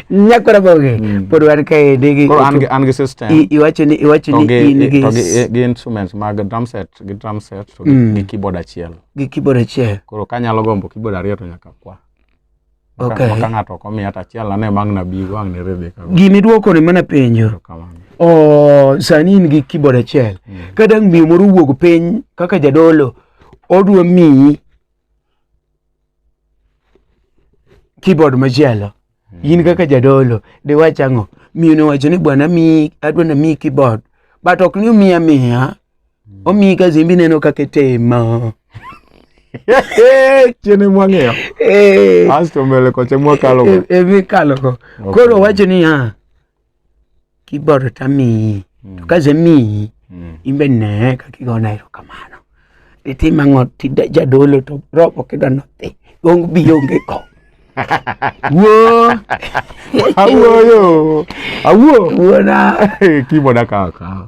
Nyakora boge. Mm. Pod wan ka ede gi. Koro an gi an gi system. Iwacho ni iwacho ni in gi. To gi gi instruments mag drum set, gi drum set to gi mm. keyboard achiel. Gi keyboard achiel. Koro kanyalo gombo keyboard ariyo to nyaka kwa. Okay. Maka ng'ato ok omiya tachiel ane mang' nabi go ang' ne Rebeka. Gini duoko ne mana penjo. Oh, sani in gi keyboard achiel. Mm. Ka dang' miyo moro wuog piny kaka jadolo odwa miyi keyboard machielo. Mm. In kaka jadolo de wach ang'o? Miyo ne wacho ni bwana mi adwa na miyi keyboard. But ok ni miya miya. Mm. Omi ka zimbi neno kaka itimo. Chiene mwang'eyo. Eh. Asto mbele kocha mwakalo. E, e, e kalo ko. Okay. Koro wacho ni ha. Kiboro tami. Mm. To kaze mi. Mm. Imbe ne kaka igona ero kamano. Iti mango ti jadolo to robo kido nothi. Gong bi onge ko. Wo. Awo yo. Awo. Wo na. Kibo na kaka.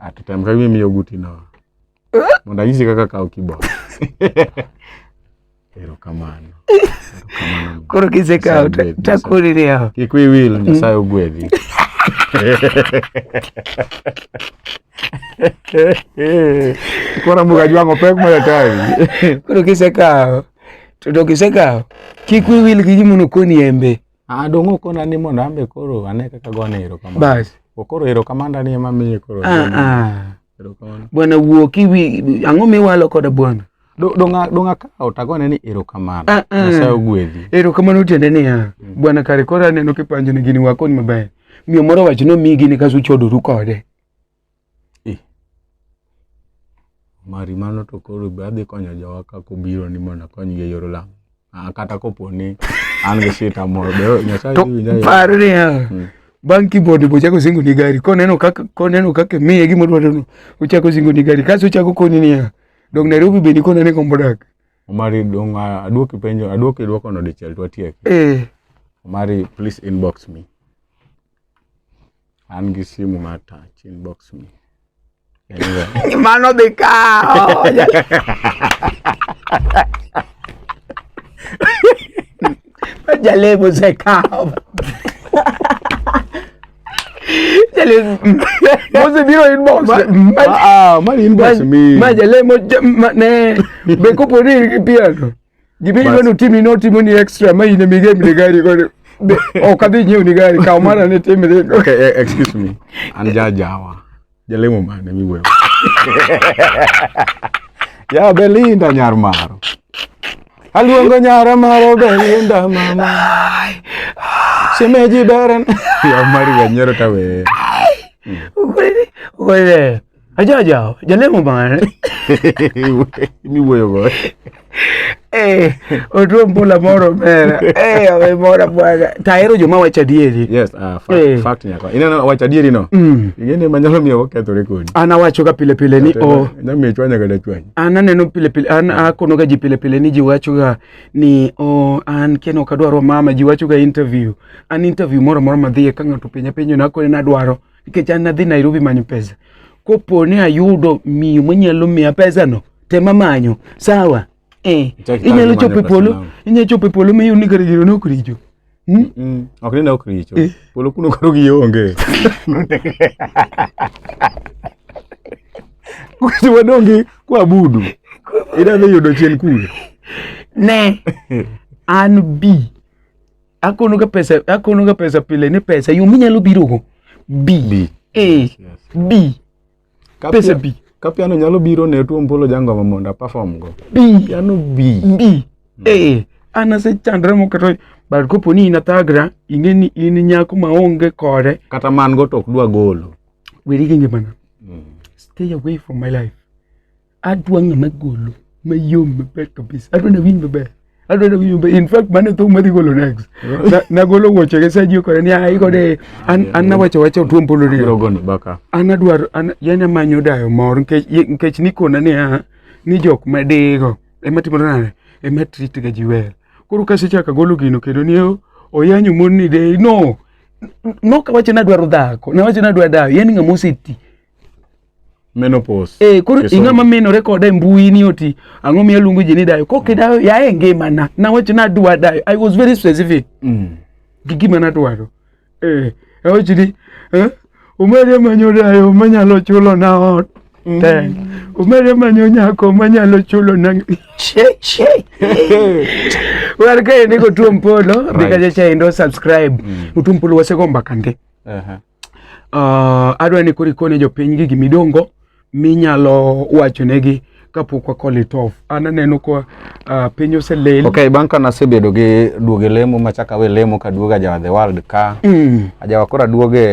Atitem ka gimi miyo guti no. Mondo anyisi kaka kawo keyboard. Erokamano. Erokamano. Koro kisekawo ta- Nyasaye takoni ni yawa. Kik wiyi wil, Nyasaye ogwedhi. Koro mbuga jwang'o pek moyo tawi. Koro kisekawo to to kisekawo kik wiyi wil gi gima nokoni embe. Ah, donge okona ni mondo ambe koro ane kaka gone erokamano. Bas. Okoro erokamano ni ema miye koro. Ah, ah. Erokamano. Bwana wuo kiwi ang'o miwalo koda bwana? Donga donga ka otagone ni erokamano. Ah, ah. Nyasaye ogwedhi. Erokamano tiende ni ya. Mm. Bwana kare kora neno kipanjo ni gini wakon maber. Miyo moro wacho no migi ni kasu chodoru kode. Mari mano to koro be adhi konyo jowa ka kobiro ni mondo akonygi e yor lamo. Ah, kata kopo ni an gi shita moro be Nyasaye dhi winja. Par niya. Hmm. Bang' kibodi bo chako singo ni gari. Koneno kaka koneno kaka miye gima dwaro no. Ochako singo ni gari. Kaso ochako koni niya. Dong Nairobi be ni kona ne kombo dak. Omari dong ah, aduoki penjo aduoki duoko no dichiel to atiek. Eh. Omari please inbox me. An gi simu mar touch inbox me. Anyway. Mano dhi kawo. Jalemo osekawo. Jalemo. Mose biro inbox. Ah, ah, mani inbox me. Ma jalemo ne be koponi piano. Gima idwa ni utimi notimo ni extra ma in emige mine gari kod ok adhi nyiew ni gari kaw mara ne timre. Okay, eh, excuse me. An jajawa. Jalemo mane miwewa. Ya Belinda nyar maro. Aluongo nyara maro Belinda mama. Shemeji beren. Ya mari wanyero tawe. Ukweli, ukweli. Aja jao, jalemo mare. Mi wuoyo go. Eh, otuo mbula moro mera. Eh, awe mora bwana. Tahero joma wacho adieri. Yes, ah, fact, Eh. fact nyako. Ineno wacho adieri no. Mm. Ing'eni ema nyalo miyo wakethore kodi. An awachoga pile pile ni o Nyamiyo chwanya kata chwanya. an aneno pile pile an akonoga ji pile pile ni ji wachoga ni o an keno ok adwaro mama ji wachoga interview an interview moro moro madhiye ka ng'ato penja penjo nakone nadwaro nikech an adhi Nairobi manyo pesa. Kopo ni ayudo miyo manyalo miya pesano, tema manyo. Sawa? Eh, Chak inyalo itamri chopo e manyo polo, pesano. inyalo chopo e polo miyo ni kare jiro nok richo. Hmm? Mm, ok ni ne ok richo Eh. polo kuno koro gi onge kucho wadongi kwabudu idadhi yudo chien kuno Ne, an bi akono ga pesa akono ga pesa pile ni pesa yo minyalo biro go bi bi eh bi pesa bi ka piano nyalo biro ne tuo mbolo jango ma mondo perform go bi piano bi bi hmm. eh ana se chandra mo kato but kopo ni inatagra inge ni in nyako ma onge kore kata man go tok dwa golo weri gi ngimana hmm. stay away from my life adwa ng'ama golo mayom maber kabisa adwa nawinj maber adwa nawinj maber in fact mane thum madhi golo next Na- nagolo wuoche gi sajio kode ni ai kode an an nawacho wacho tuom polo ni Biro goni baka. an adwaro an yani amanyo dayo mor nikech ye- nikech nikona niya ni jok madigo ema timore nade ema trit ga ji wer koro kasechaka golo gino kendo ni o- oyanyo mon ni de no nokawacho nadwaro dhako nawacho nadwa dayo yani ng'ama oseti menopause eh koro inga ma menore koda e mbui ni oti ango mi aluongo ji ni dayo kok idayo ya e ngima na na wach na dwa dayo i was very specific mm. gi gima na dwaro eh awach ni eh umere manyo dayo manyalo chulo na ot mm. te umere manyo nyako manyalo chulo na che che war ka ni go tuom polo right. dikaje cha indo subscribe mm. utumpolo wasegomba kande uh -huh. Uh, adwa ni koro ikone jopiny gi gimidongo minyalo wacho negi kapok wakole tof an aneno ka uh, ah, piny oselel okay, bang' ka nasebedo gi duoge lemo machak awe lemo ka duoga jawa the world ka mm. ajawa koro aduoge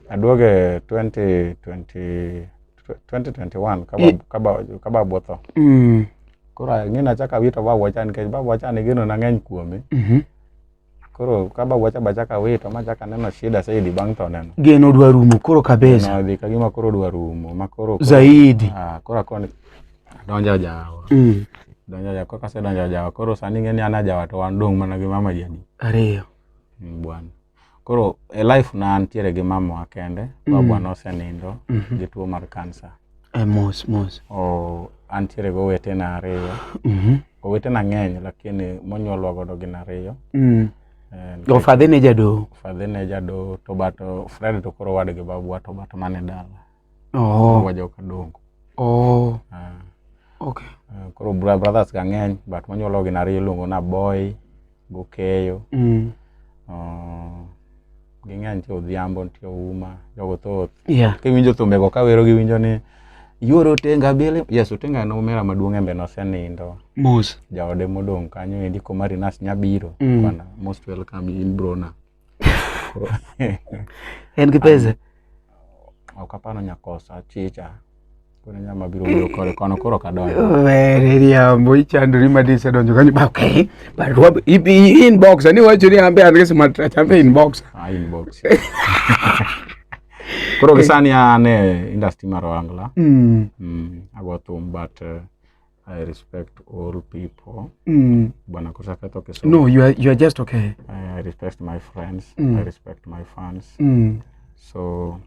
aduoge 2020 2021 kaba, e. kaba, kaba botho mm. koro ang'e nachak awito babwa cha nikech babwa cha nigeno nang'eny kuome mm -hmm. Koro kaba wacha bacha ka wito ma chaka neno shida saidi bang' to neno. Geno dwa rumo koro kabisa. Na dhi kagima koro dwa rumo ma koro zaidi. Ah, koro akoni donja jawa. Mm. Donja jawa kaka se donja jawa koro sani ng'eni ana jawa to wan dong' mana gi mama jadi. Ariyo. Mm, bwana. Koro e life na antiere gi mama wa kende, mm. babwa mm. nosenindo mm -hmm. gi tuo mar kansa. Eh, mos mos. Oh, antiere gi owetena ariyo. Mm -hmm. Owetena ng'eny lakini monyuolwa godo gin ariyo. Mm. Eh, Fadhe ne jadoho. Fadhe ne jadoho to but oh, Fred to koro wadgi babwa to but mane dala. Oh. Wajoka dongo. Oh. Uh, okay. Uh, koro brothers ga ng'eny but monyuolwa gin ariyo iluongo na boy. gokeyo mm. uh, ging'eny nitie odhiambo nitie ouma jogo thoth yeah. kiwinjo thumbego kawero giwinjo ni yuoro otenga bele yes otenga en omera maduong' embe nosenindo mos jaode modong' kanyo endi komarinas nyabiro mm. most welcome in brona en gi pesa ok apano nyakosa chicha kuna nyama biro wuyo kore kono koro kadonjo were riambo ichandori madisa donjo kanyo ba okay but what ibi inbox ani wacho ni ambe andike sima tracha ambe inbox ah inbox koro gisani ane industry mar wangla mm. mm, ago thum but uh, I respect all people. Mm. Bwana Kusakata okay, so No, you are you are just okay. I, I respect my friends. Mm. I respect my fans. Mm. So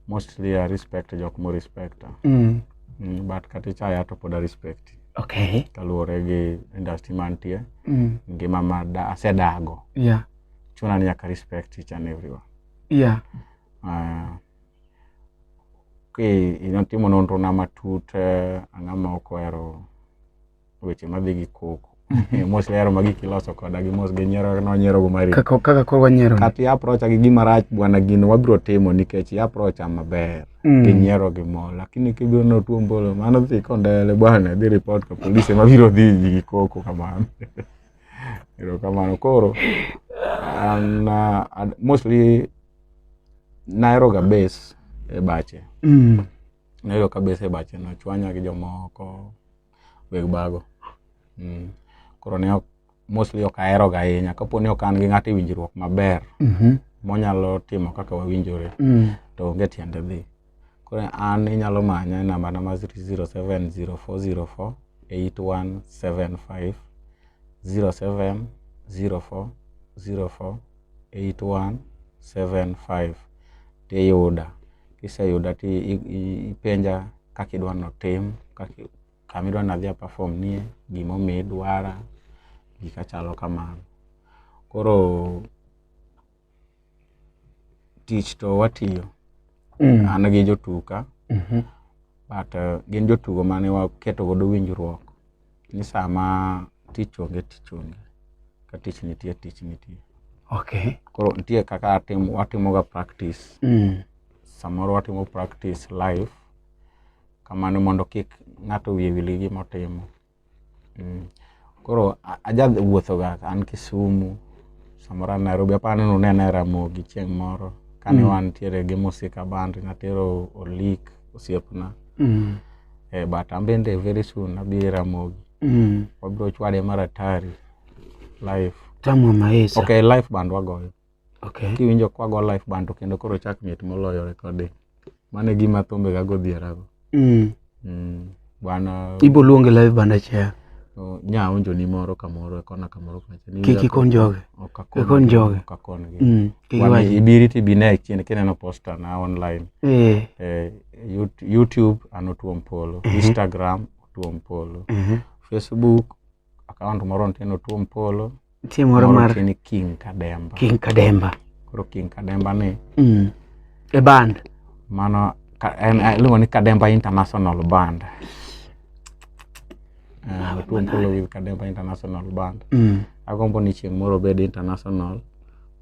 mostly I respect jok mo respect. Mm. Mm, but kati chaya to poda respect. Okay. Kaluwore gi industry mantie. Mm. Ngima ma da asedago. Yeah. Chuna ni nyaka respect each and everyone. Yeah. Uh, Natimo nonro na matut eh, ang'a ma ok ohero weche madhi gi koko. Eh, mos lero ma gik iloso koda gi mos gi nyiero no nyiero go mari. Kaka kaka koro wanyiero. Kata i approach gi gima rach bwana gino wabiro timo nikech i approach maber. Mm. Gi nyiero gi mo lakini kibiro no tuo mbolo mano dhi kondele bwana dhi report ka polisi e ma biro dhi gi koko kamano. Ero kamano koro an uh, mostly nahero ga base e bache mm. nahero ka base e bache nochwanya gi jomoko weg bago mm. koro ne ok mostly ok aheroga ahinya kapo ni ok an gi ng'ato e winjruok maber mm -hmm. monyalo timo kaka wawinjore mm. to onge tiende dhi Koro an inyalo manya e namba na ma 0704048175 tiyuda. Kiseyuda tipenja kaka idwa ni otim, kama idwa ni adhi a perform nie, gima omiyo idwara, gika chalo kamano. Koro. tich to watiyo mm. an gi jotuka mm -hmm. but uh, gin jotugo mane waketo godo winjruok ni sama tich onge tich onge ka tich nitie tich nitie okay. koro nitie kaka atim, watimoga practice mm. samoro watimo practice live kamano mondo kik ng'ato wiye wil gi gima otimo Mm. Koro aja wuothoga an Kisumu samoro an Nairobi aparo ni nunena e Ramogi chieng' moro kane mm. wantiere gi Musika Band natero Olik osiepna mm. eh, but an bende very soon abi e Ramogi mm. wabiro chwade mar atari live Tamu Maesa. Okay, live band wagoyo Okay. Kiwinjo kwa go live band to kendo koro chak mit moloyo recording. Mane gima thumbe ga godhiera go. Mm. Mm. Bwana Ibo luonge live band achiel. So, nya onjo ni moro kamoro kona kamoro kacha. Ni Kiki kon joge. Okakon. Kon joge. Okakon gi. Mm. Kiki waji. Ibiri ti bine chien kineno poster na online. Eh. Eh, YouTube anotuom polo. Mm -hmm. Instagram otuom polo. Mm -hmm. Facebook Account moro nitie no Tuom Polo. Nitie moro mar nitie ni King Kademba. King Kademba. Koro King Kademba ni. Mm. E band. Mano en iluongo ni Kademba International Band. Uh, Tuom Polo with Kademba International Band. Mm. Agombo ni chieng' moro bed international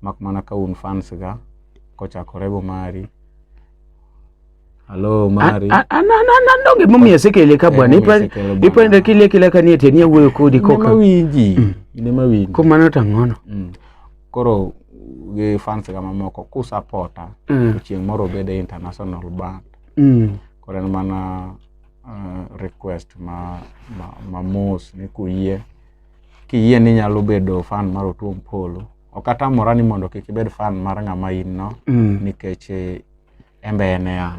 mak mana ka un fans ga kochakore go mari Hello Mari. Anando gima omiyo asekele ka bwana. Ipande kile kile kanie tenie wuoyo kodi koka. Ine mawinji. Mm. Ine mawinji. Ko mano tang'ono. Mm. Koro gi fans ga mamoko ku supporta mm. chieng' moro bede international band. Mm. Koro en mana uh, request ma ma, ma mos ni kuyie. Kiyie ni nyalo bedo fan mar Otuom Polo. Ok atamora ni mondo kik ibed fan mar ng'ama in no mm. nikech eh, En be en e an.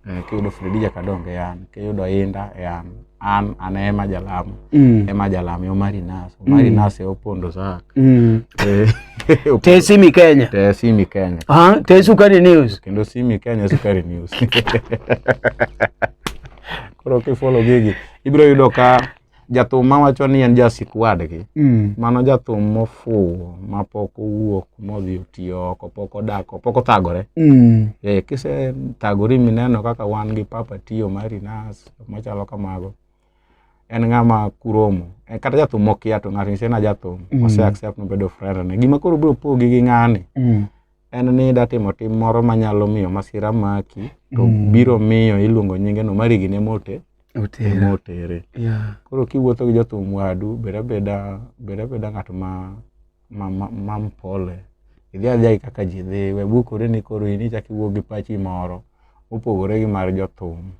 Eh, kiyudo Fredija Kadonge e an, kiyudo Inda e an. An an ema jalamo. Mm. Ema jalamo yo mari nas. Mari nas e opondo sak. Mm. Eh, Te simi Kenya. Te simi Kenya. Ah, te sukari news. Kendo simi Kenya sukari news. Koro kifollow gigi ibiro yudo ka jathum ma wacho ni en jasik wadgi mm. mano jathum mofuwo ma pok owuok modhi otiyo oko pok odako pok othagore mm. e, kise thagori mineno kaka wan gi papa tiyo mari nas machalo kamago en ng'ama kuromo e, kata jathum mokia to ng'ato nyise na jathum mm. ose accept nobedo frere ne gima koro biro pogi gi ng'ani mm. en ni idwa timo tim moro manyalo miyo masira maki to mm. biro miyo iluongo nyinge no marigi ne mote motere yeah. koro kiwuotho gi jothum wadu beda beda beda beda ng'at ma ma, ma, ma mpole idhi adhiagi kaka ji dhi we bukore ni koro in ichak iwuog gi pachi moro mopogore gi mar jothum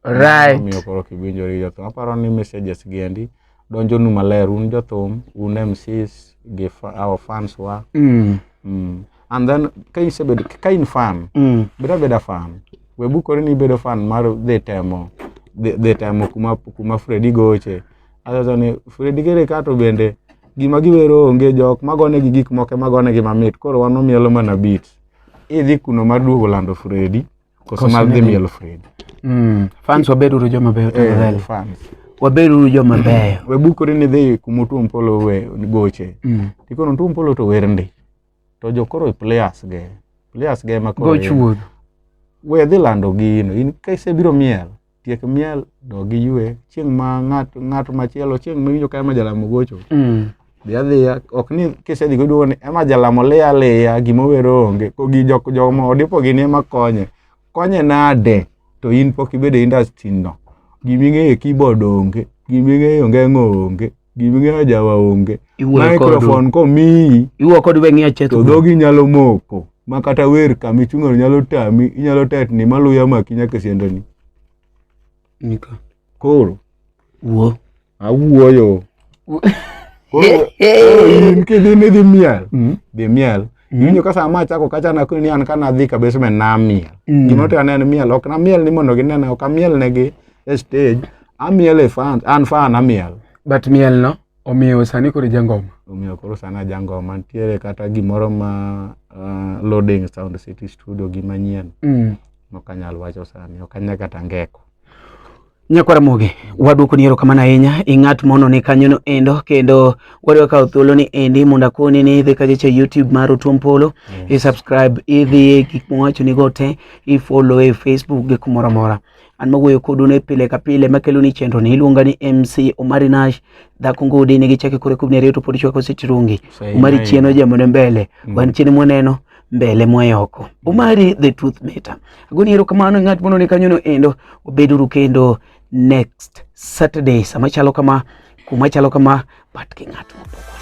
right. omiyo koro kiwinjori jothum aparo ni messages gi endi donjonu maler un jothum un mcs gi fa- our fans wa Mm. mm. and then ka isebedo ka in fan Mm. bed abeda fan we bukori ni ibedo fan mar dhi temo dhi dhi temo kuma kuma fredi goche achacha ni fredi kere ka to bende gima giwero onge jok magonegi gik moko magonegi mamit koro wan omielo mana bit idhi kuno mar duogo lando fredi Koso Koso madhi nidhi- miel Fred. Mm. Fans wabed uru joma beyo Eh, tafadhali. fans. Wabed uru joma beyo. We bukori ni dhi kuma Otuom Polo we goche. Mm. Tikono Otuom Polo to wer ndi. To jokoro players ge. Players ge ma koro. Go chuodho. We dhi lando gino. In ka isebiro miel. tiek miel dog iywe chieng' ma ng'at ng'at machielo chieng' miwinjo ka ema jalamo gocho mm. dhi adhiya ok ni kisedhi goduogo ni ema jalamo liya liya gima owero onge kogi jok joma odipo gini ema konye konye nade to in pok ibedo e industry no gima ing'eyo keyboard onge gima ing'eyo ngengo onge giming'eyo jawa onge microphone komiyi iwuo kod weng'ia chetho to dhogi nyalo moko ma kata wer kama ichung'no nyalo tami inyalo tetni maluya maki nyaka siendoni nika koro wuo awuoyo koro in kidhi ni dhi miel hmm? dhi miel Mm. Winjo ka sama achako kacha na kuni an kana dhi ka basement na miel. Mm. Gima to aneno miel ok na miel ni mondo ginena ok amiel negi e stage. Amiel e fan an fan amiel. But miel no omiyo sani koro jangoma. Omiyo koro sani jangoma nitiere kata gimoro ma uh, loading sound city studio gima nyien. Mm. Nokanyal wacho sani okanya kata ngeko. Nyakwara Muge, waduoko ni erokamano ahinya i ng'at mono ni kanyono endo kendo wadwa kawo thuolo ni endi mondo akoni ni idhi kajeche YouTube mar Otuom Polo yes. i subscribe idhi e gik mowacho ni go te i follow e Facebook gi kumoro amora an mawuoyo kodu ne pile ka pile makelo ni chenro ni iluonga ni MC Omari Nash dhako ngudi ne gichake kore kubni ariyo to pod chwako sitirungi Omari chieno jamone mbele mm. wan chiene mwaneno mbele mwayoko umari the truth matter agoni erokamano e ng'at mondo ni kanyono endo obeduru kendo next saturday sama chalo kama kuma chalo kama but ki ng'at mopogore